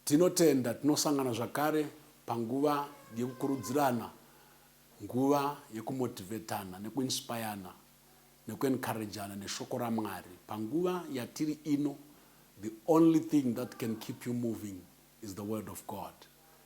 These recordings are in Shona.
tinotenda tinosangana zvakare panguva yekukurudzirana nguva yekumotivetana nekuinspirana nekuencouragana neshoko ramwari panguva yatiri ino the only thing that can keep you moving is the word of god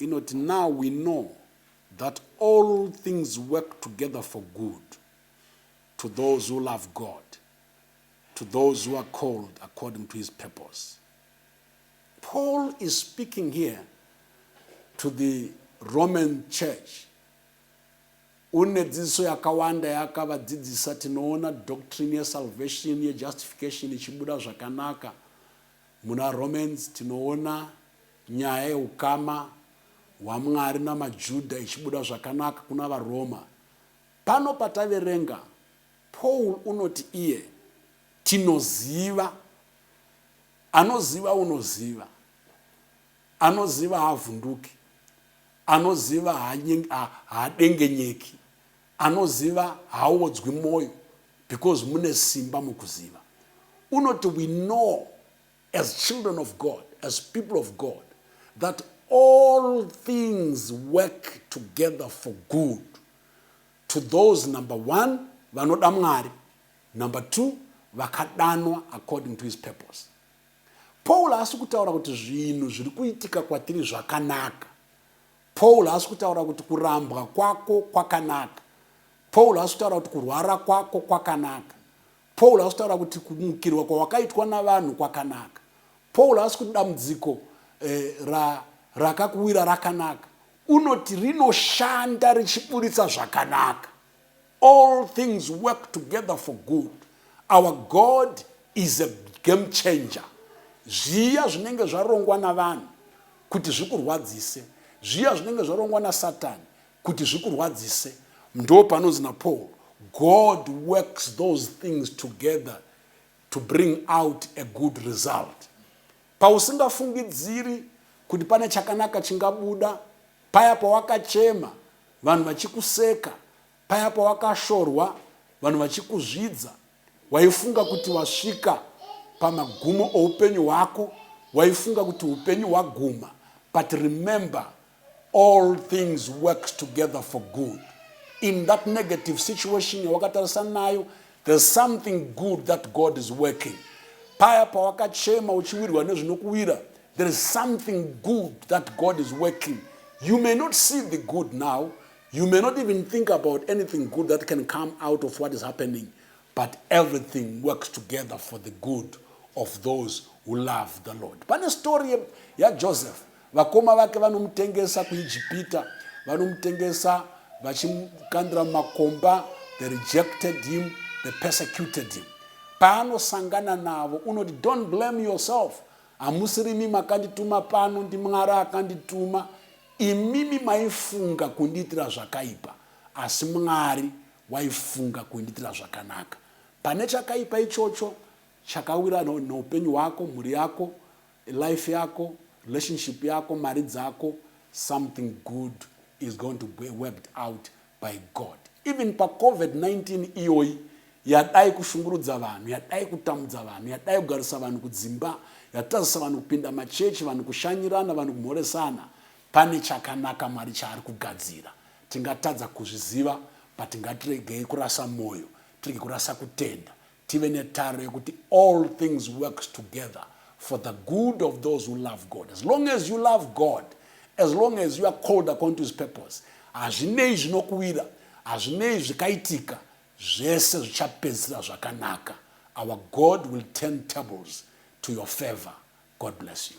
inoti now we know that all things work together for good to those who love God to those who are called according to his purpose. Paul is speaking here to the Roman church une dzidziso yakawanda yaakavadzidzisa tinoona doctrine yesalvation yejustification ichibuda zvakanaka muna romans tinoona Nyaya yeukama hwaMwari namaJuda ichibuda zvakanaka kuna vaRoma, pano pataverenga Paul unoti iye tinoziva, anoziva unoziva, anoziva haavhunduki, anoziva haadengenyeki, anoziva haaodzwi moyo because mune simba mukuziva. Unoti we know as children of God, as people of God, that all things work together for good to those number one vanoda mwari number two vakadanwa according to his purpose paul haasi kutaura kuti zvinhu zviri kuitika kwatiri zvakanaka paul haasi kutaura kuti kurambwa kwako kwakanaka paul haasi kutaura kuti kurwara kwako kwakanaka Paul haasi kutaura kuti kumukirwa kwawakaitwa navanhu kwakanaka. Paul haasi kuti dambudziko eh, ra, rakakuwira rakanaka. Unoti rinoshanda richiburitsa zvakanaka. All things work together for good. Our God is a game changer. Zviya zvinenge zvarongwa navanhu kuti zvikurwadzise, zviya zvinenge zvarongwa nasatani kuti zvikurwadzise. Ndopanonzi naPaul, God works those things together to bring out a good result. Pausingafungidziri kuti pane chakanaka chingabuda, paya pawakachema vanhu vachikuseka, paya pawakashorwa vanhu vachikuzvidza, Waifunga kuti wasvika pamagumo oupenyu hwako, waifunga kuti upenyu hwaguma but remember all things works together for good. In that negative situation yawakatarisana nayo there's something good that God is working. Paya pawakachema uchiwirwa nezvinokuwira there is something good that God is working. You may not see the good now You may not even think about anything good that can come out of what is happening, but everything works together for the good of those who love the Lord. Pane story yaJoseph, vakoma vake vanomutengesa kuIjipita, vanomutengesa vachimukandira mumakomba, they rejected him, they persecuted him. Paanosangana navo unoti don't blame yourself, Hamusirimi makandituma pano ndiMwari akandituma imimi maifunga kundiitira zvakaipa asi Mwari waifunga kundiitira zvakanaka pane chakaipa ichocho chakawira neupenyu hwako mhuri yako life yako relationship yako mari dzako something good is going to be worked out by God even paCovid-19 iyoyi yadai kushungurudza vanhu yadai kutamudza vanhu yadai kugarisa vanhu kudzimba yatazisa vanhu kupinda machechi vanhu kushanyirana vanhu kumhoresana pane chakanaka mwari chaari kugadzira tingatadza kuzviziva but ngatiregei kurasa mwoyo tirege kurasa kutenda Tive netaro yekuti all things works together for the good of those who love God. As long as you love God, as long as you are called according to his purpose, hazvinei zvinokuwira, hazvinei zvikaitika, zvese zvichapedzisira zvakanaka. Our God will turn tables to your favor. God bless you.